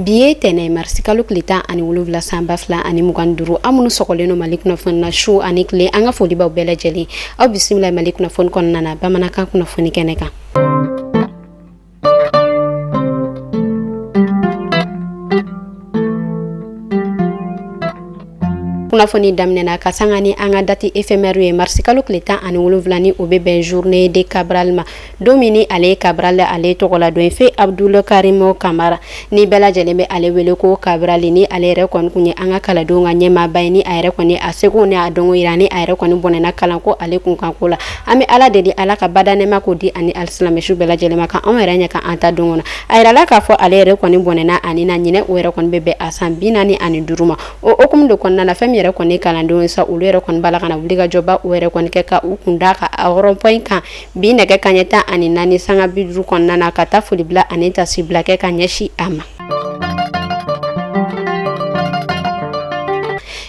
bi ye tɛnɛ marisi kalo tile tan ani wolonwula san ba fila ani mugan duuru aw minnu sɔgɔlen don mali kunnafoni na su ani tile an ka folibaw bɛɛ lajɛlen aw bisimila mali kunnafoni kɔnɔna na bamanankan kunnafoni kɛnɛ kan kunnafoni daminɛna ka sanga ni an ka dati efemɛri ye marisikalo tile tan ani wolonwula ni o bɛ bɛn journée de cabral ma don min ni ale ye cabral ale tɔgɔ la don ye feu abdul karimu kamara ni bɛɛ lajɛlen bɛ ale wele ko kabrali ni ale yɛrɛ kɔni tun ye an ka kalandenw ka ɲɛmaaba ye ni a yɛrɛ kɔni a seko ni a dɔnko jira ni a yɛrɛ kɔni bɔnɛna kalan ko ale kun kan ko la an bɛ ala deli ala ka badaa nɛɛma ko di a ni alisilamɛ su bɛɛ lajɛlen ma ka anw yɛrɛ ɲɛ ka an ta don kɔnɔ a jirala k'a fɔ ale yɛrɛ kɔni bɔnɛna a ni na ɲinan o yɛrɛ kɔni bɛ bɛn a san bi naani ani duuru ma o hukumu de kɔnɔna na fɛn min yɛrɛ kɔni kalandenw sa olu yɛrɛ kɔni bɔla ka na wuli ka jɔba o yɛrɛ kɔni kɛ ka u kun d'a ka rond-point kan Bi nɛgɛ kaɲɛ tan ani naani sanga bi duuru kɔnɔna na ka taa foli bila ani tasibila kɛ ka ɲɛsin a ma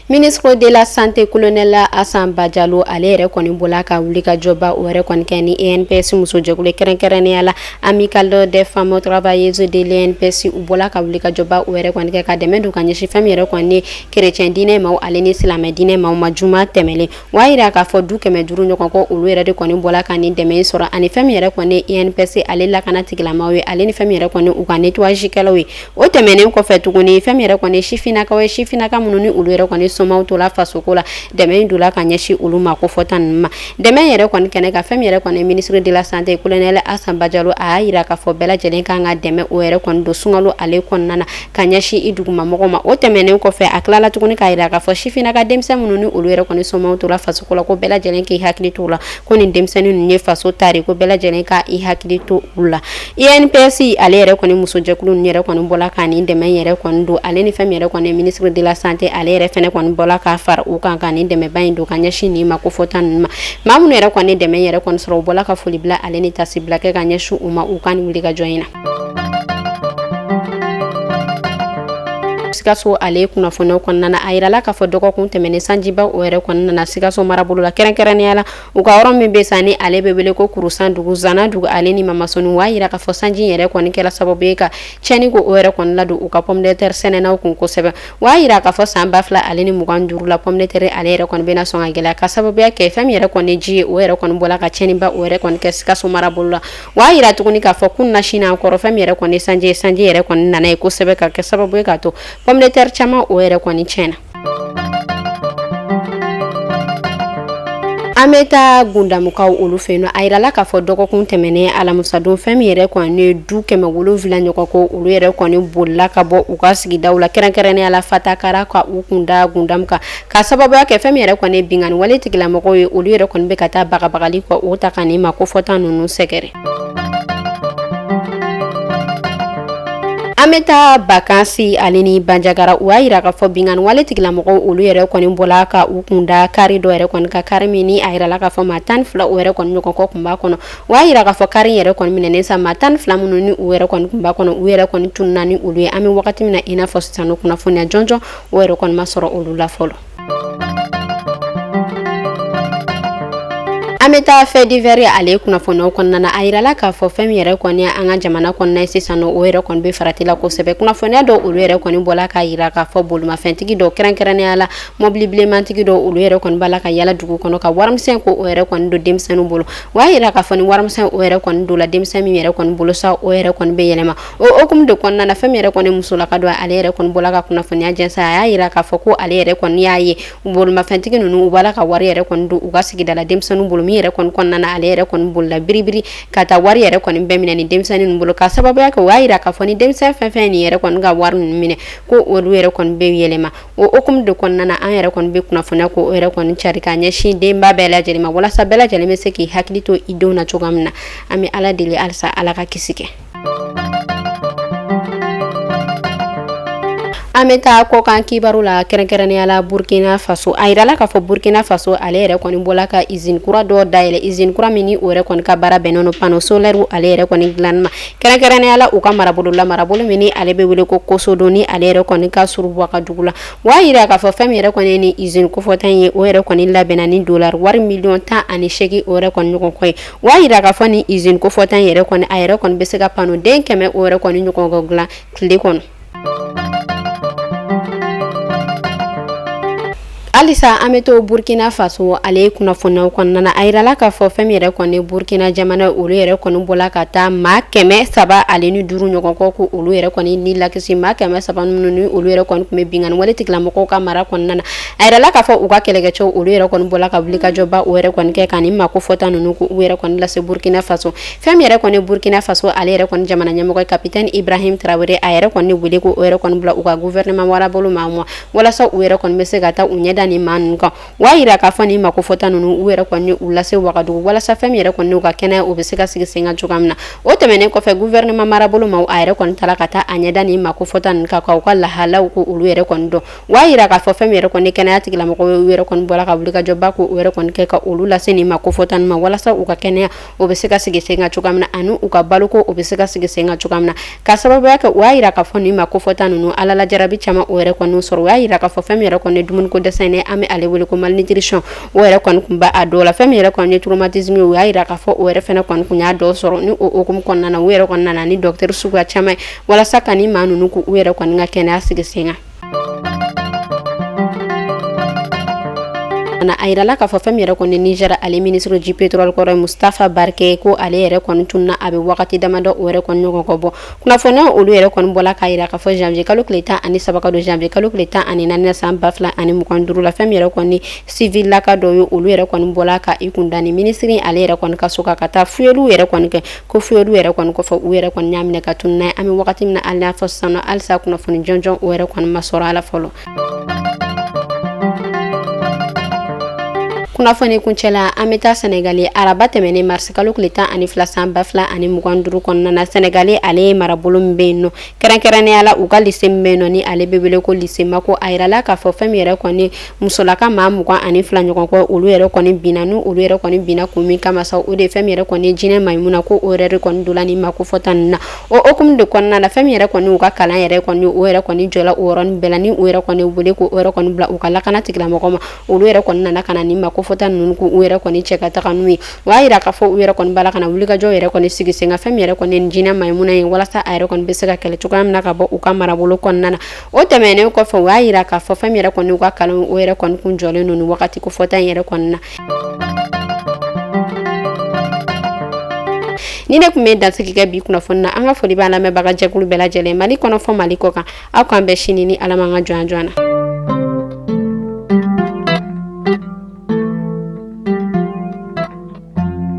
ministre de la santé colonel Asan Bajalo ale yɛrɛ kɔni bɔla ka wuli ka jɔba o yɛrɛ kɔni kɛ ni INPS musojɛkulu kɛrɛnkɛrɛnnenya la amicale des femmes travailleuses de l'INPS u bɔla ka wuli ka jɔba o yɛrɛ kɔni kɛ ka dɛmɛ don ka ɲɛsin fɛn min yɛrɛ kɔni kerecɛn diinɛ maaw ale ni silamɛ diinɛ maaw ma juma tɛmɛlen O y'a jira k'a fɔ du kɛmɛ duuru ɲɔgɔn kɔ olu yɛrɛ de kɔni bɔla ka nin dɛmɛ sɔrɔ ani fɛn min yɛrɛ kɔni ni INPS ale lakana tigilamaw ye ale ni fɛn min yɛrɛ kɔni u ka nettoyage kɛlaw ye o tɛmɛnen kɔfɛ tuguni fɛn min yɛrɛ kɔni ye sifinnakaw ye sifinnaka minnu ni olu yɛrɛ kɔni somaw tola fasoko la dɛmɛ in donna ka ɲɛsin olu maa kofɔta ninnu ma dɛmɛ in yɛrɛ kɔni kɛnɛ kan fɛn min yɛrɛ kɔni ministre de la santé colonel Asan Bajalo a y'a jira k'a fɔ bɛɛ lajɛlen kan ka dɛmɛ o yɛrɛ kɔni don sunkalo ale kɔnɔna na ka ɲɛsin i duguma mɔgɔ ma o tɛmɛnen kɔfɛ a tilala tuguni k'a jira k'a fɔ sifinna ka denmisɛn minnu ni olu yɛrɛ kɔni somaw tola faso ko la ko bɛɛ lajɛlen k'i hakili to la ko nin denmisɛnnin ninnu ye faso tari ko bɛɛ lajɛlen ka i hakili to u la inps ale yɛrɛ kɔni musojɛkulu ninnu yɛrɛ kɔni bɔla ka nin dɛmɛ yɛrɛ kɔni don ale ni fɛn min yɛrɛ kɔni ministre de la santé ale yɛrɛ fɛnɛ kɔni bɔla k'a fara u kan ka nin dɛmɛba in don ka ɲɛsin nin maa kofɔta ninnu ma maa minnu yɛrɛ kɔni dɛmɛ yɛrɛ kɔni sɔrɔ u bɔla ka foli bila ale ni tasibila kɛ ka ɲɛsin u ma u ka nin wuli ka jɔ in na Sikaso ale kunnafoniw kɔnɔna na a jirala k'a fɔ dɔgɔkun tɛmɛnen sanjiba o yɛrɛ kɔni nana sikaso marabolo la kɛrɛnkɛrɛnnenya la u ka yɔrɔ min bɛ sa ni ale bɛ wele ko kurusandugu zanadugu ale ni mamasoni o y'a jira k'a fɔ sanji in yɛrɛ kɔni kɛra sababu ye ka tiɲɛni ko o yɛrɛ kɔni ladon u ka pomme de terre sɛnɛnaw kun kosɛbɛ o y'a jira k'a fɔ san ba fila ale ni mugan duuru la pomme de terre ale yɛrɛ kɔni bɛna sɔn ka gɛlɛya ka sababuya kɛ fɛn min yɛrɛ kɔni ji ye o yɛrɛ kɔni bɔla ka tiɲɛniba o yɛrɛ kɔni kɛ sikaso marabolo la O y'a yira tuguni k'a fɔ kunnasini kɔrɔ fɛn min yɛrɛ kɔni sanji ye sanji yɛrɛ kɔni nana yen kosɛbɛ ka kɛ sababu ye k'a to pɔmu de tɛri caman o yɛrɛ kɔni tiɲɛna an bɛ taa Gundamukaw olu fɛ yen nɔ a yirala k'a fɔ dɔgɔkun tɛmɛnen alamusadon fɛn min yɛrɛ kɔni ye du kɛmɛ wolonwula ɲɔgɔn ko olu yɛrɛ kɔni bolila ka bɔ u ka sigidaw la kɛrɛnkɛrɛnnenya la Fatakara ka u kun da Gundamu kan Ka sababuya kɛ fɛn min yɛrɛ kɔni binkanni wale tigilamɔgɔw ye olu yɛrɛ kɔni bɛ ka taa bagabagali ko o ta ka nin maa kofɔta ninnu sɛgɛrɛ an bɛ taa Bankasi ale ni Banjagara u y'a yira k'a fɔ binkanni wale tigilamɔgɔw olu yɛrɛ kɔni bɔla ka u kun da kari dɔ yɛrɛ kɔni kan kari min ni a yirala k'a fɔ maa tan ni fila o yɛrɛ kɔni ɲɔgɔn kɔ kun b'a kɔnɔ o y'a yira k'a fɔ kari yɛrɛ kɔni minɛnen sa maa tan ni fila minnu ni u yɛrɛ kɔni kun b'a kɔnɔ u yɛrɛ kɔni tununna ni olu ye an bɛ wagati min na i n'a fɔ sisan nɔ kunnafoniya jɔnjɔn o yɛrɛ kɔni ma sɔrɔ olu la fɔlɔ an bɛ taa fɛ divɛri ale kunnafoniyaw kɔnɔna na a yirala k'a fɔ fɛn min yɛrɛ kɔni an ka jamana kɔnɔna ye sisan nɔ o yɛrɛ kɔni bɛ farati la kosɛbɛ kunnafoniya dɔw olu yɛrɛ kɔni bɔla k'a yira k'a fɔ bolimafɛntigi dɔw kɛrɛnkɛrɛnnenya la mɔbili bilemantigi dɔw olu yɛrɛ kɔni b'a la ka yala dugu kɔnɔ ka warimisɛn ko o yɛrɛ kɔni don denmisɛnninw bolo o y'a yira k'a fɔ ni warimisɛn o yɛrɛ kɔni don la denmisɛn min yɛrɛ kɔni bolo sa o yɛrɛ kɔni bɛ yɛlɛma O hukumu de kɔnɔna na fɛn min yɛrɛ kɔni musolaka dɔ ale yɛrɛ kɔni bɔla ka kunnafoniya jɛnsɛn a y'a yira k'a fɔ ko ale yɛrɛ kɔni y'a ye bolimafɛntigi ninnu u b'a la ka wari yɛrɛ kɔni don u ka sigida la denmisɛnninw bolo min yɛrɛ kɔni kɔnɔna na ale yɛrɛ kɔni bolila biribiri ka taa wari yɛrɛ kɔni bɛɛ minɛ ni denmisɛnnin ninnu bolo ka sababuya kɛ o y'a yira k'a fɔ ni denmisɛnnin fɛn fɛn nin yɛrɛ kɔni ka wari ninnu minɛ ko olu yɛrɛ kɔni bɛ yɛlɛma o hukumu de kɔnɔna na an yɛrɛ kɔni bɛ kunnafoniya ko o yɛrɛ kɔni cari k'a ɲɛsin denba bɛɛ lajɛ lajɛlen ma walasa bɛɛ lajɛlen bɛ se k'i hakili to i denw na cogoya min na an bɛ ala deli halisa ala ka kisi kɛ an bɛ taa kɔkan kibaru la kɛrɛnkɛrɛnnenya la burkina faso a yirala k'a fɔ burkina faso ale yɛrɛ kɔni bɔla ka izini kura dɔ dayɛlɛ izini kura min ni o yɛrɛ kɔni ka baara bɛnnen don pano solɛri ale yɛrɛ kɔni dilanni ma kɛrɛnkɛrɛnnenya la u ka marabolo la marabolo min ni ale bɛ wele ko Kosodo ni ale yɛrɛ kɔni ka surun Wagadugu la o y'a yira k'a fɔ fɛn min yɛrɛ kɔni ye ni izini kofɔta in ye o yɛrɛ kɔni labɛnna ni dolari wari miliyɔn tan ani seegin o yɛrɛ kɔni ɲɔgɔn kɔ ye O y'a yira k'a fɔ ni izini kofɔta in yɛrɛ kɔni a yɛrɛ kɔni bɛ se ka pano den kɛmɛ o yɛrɛ kɔni ɲɔgɔn dilan tile kɔnɔ halisa an bɛ to burkina faso ale kunnafoniyaw kɔnɔna na a yirala k'a fɔ fɛn min yɛrɛ kɔni burkina jamana ye olu yɛrɛ kɔni bɔla ka taa maa kɛmɛ saba ale ni duuru ɲɔgɔn kɔ k'olu yɛrɛ kɔni ni lakisi maa kɛmɛ saba minnu ni olu yɛrɛ kɔni tun bɛ binkanni wale tigilamɔgɔw ka mara kɔnɔna na A yirala k'a fɔ u ka kɛlɛkɛcɛw olu yɛrɛ kɔni bɔra ka wulikajɔba o yɛrɛ kɔni kɛ ka ni maa ko fɔta ninnu u yɛrɛ kɔni lase burukina faso fɛn min yɛrɛ kɔni burukina faso ale yɛrɛ kɔni jamana ɲɛmɔgɔ kapitɛni ibrahim tarawele a yɛrɛ kɔni wele ko o yɛrɛ kɔni bila u ka gouvernement marabolo maa ma walasa u yɛrɛ kɔni bɛ se ka taa u ɲɛda ni maa ninnu kan o y'a jira k'a fɔ ni maa ko fɔta ninnu u yɛrɛ kɔni u lase wagadugu walasa fɛn min yɛrɛ kɔni u ka kɛnɛya o bɛ se ka sigi sen kan cogoya min na o tɛmɛnen kɔfɛ gouvernement marabolo ma a yɛrɛ kɔni taara ka taa a ɲɛda ni maa ko fɔta ninnu kan k'u ka lahalaw ko olu yɛrɛ kɔni dɔn O y'a jira k'a fɔ fɛn min yɛrɛ kɔni kɛnɛya tigilamɔgɔw ye u yɛrɛ kɔni bɔra ka wulikajɔba ko o yɛrɛ kɔni kɛ ka olu lase nin maa ko fɔta ninnu ma walasa u ka kɛnɛya o bɛ se ka sigi sen kan cogoya min na ani u ka balo o bɛ se ka sigi sen kan cogoya min na ka sababuya kɛ o y'a jira k'a fɔ nin maa ko fɔta ninnu ala la jarabi caman o yɛrɛ kɔni sɔrɔ o y'a jira k'a fɔ fɛn min yɛrɛ kɔni dumuniko dɛsɛ an bɛ ale wele ko malnutrition o yɛrɛ kɔni kun b'a dɔw la fɛn min yɛrɛ kɔni traumatisme ye o y'a jira k'a fɔ o yɛrɛ fana kɔni kun y'a dɔw sɔrɔ ni o hukumu kɔnɔna na u yɛrɛ kɔni nana ni docteur suguya caman ye walasa ka maa ninnu u yɛrɛ kɔni ka kɛnɛya sigi sen kan fana a yirala k'a fɔ fɛn min yɛrɛ kɔni nizɛr ale minisiri du pétrole kɔrɔ mustafa barke ko ale yɛrɛ kɔni tunna a bɛ wagati damadɔ o yɛrɛ kɔni ɲɔgɔn kɔ bɔ kunnafoniya olu yɛrɛ kɔni bɔla k'a yira k'a fɔ janvier kalo tile tan ani saba ka don janvier kalo tile tan ani naani san ba fila ani mugan duuru la fɛn min yɛrɛ kɔni civil laka dɔ ye olu yɛrɛ kɔni bɔla ka i kun da ni minisiri ale yɛrɛ kɔni ka so kan ka taa fuyeliw yɛrɛ kɔni kɛ ko fuyeli olu yɛrɛ kɔni kɔfɛ u yɛrɛ kɔni y'a minɛ ka tun n'a ye an bɛ wagati min na hali n'a fɔ sisan nɔ halisa kunnafoni jɔnjɔn o yɛrɛ kɔni ma sɔrɔ a la fɔlɔ kunnafoni kuncɛ la an bɛ taa sɛnɛgali araba tɛmɛnen marisikalo tile tan ani fila san ba fila ani mugan duuru kɔnɔna na sɛnɛgali ale ye marabolo min bɛ yen nɔ kɛrɛnkɛrɛnnenya la u ka lise min bɛ yen nɔ ni ale bɛ wele ko lise mako a jirala k'a fɔ fɛn min yɛrɛ kɔni musolaka maa mugan ani fila ɲɔgɔn kɔ olu yɛrɛ kɔni binna ni olu yɛrɛ kɔni binna kun min kama sa o de fɛn min yɛrɛ kɔni jinɛ mayimuna ko o yɛrɛ kɔni donna ni maa ko fɔta ninnu na o hukumu de kɔnɔna na fɛn min yɛrɛ kɔni u ka kalan yɛrɛ kɔni o yɛrɛ kɔni jɔla o yɔrɔnin bɛɛ la ni o yɛrɛ kɔni wele ko o yɛrɛ kɔni bila u ka lakana tigilamɔgɔw ma olu yɛrɛ kɔni nana ka ni maa ko fɔta ninnu u yɛrɛ kɔni cɛ ka taga n'u ye o y'a jira k'a fɔ u yɛrɛ kɔni bala ka wulikajɔ yɛrɛ kɔni sigi sen kan fɛn min yɛrɛ kɔni jinɛ mayimuna ye walasa a yɛrɛ kɔni bɛ se ka kɛlɛ cogoya min na ka bɔ u ka marabolo kɔnɔna na O tɛmɛnen kɔfɛ o y'a jira k'a fɔ fɛn min yɛrɛ kɔni u ka kalan o yɛrɛ kɔni kun jɔlen don ni wagati ko fɔta in yɛrɛ kɔni na ni ne kun bɛ dansigi kɛ bi kunnafoni na an ka foli b'a lamɛnbagajɛkulu bɛɛ lajɛlen mali kɔnɔ fɔ mali kɔkan aw k'an bɛn sini ni ala ma n ka jɔnya jɔ yan na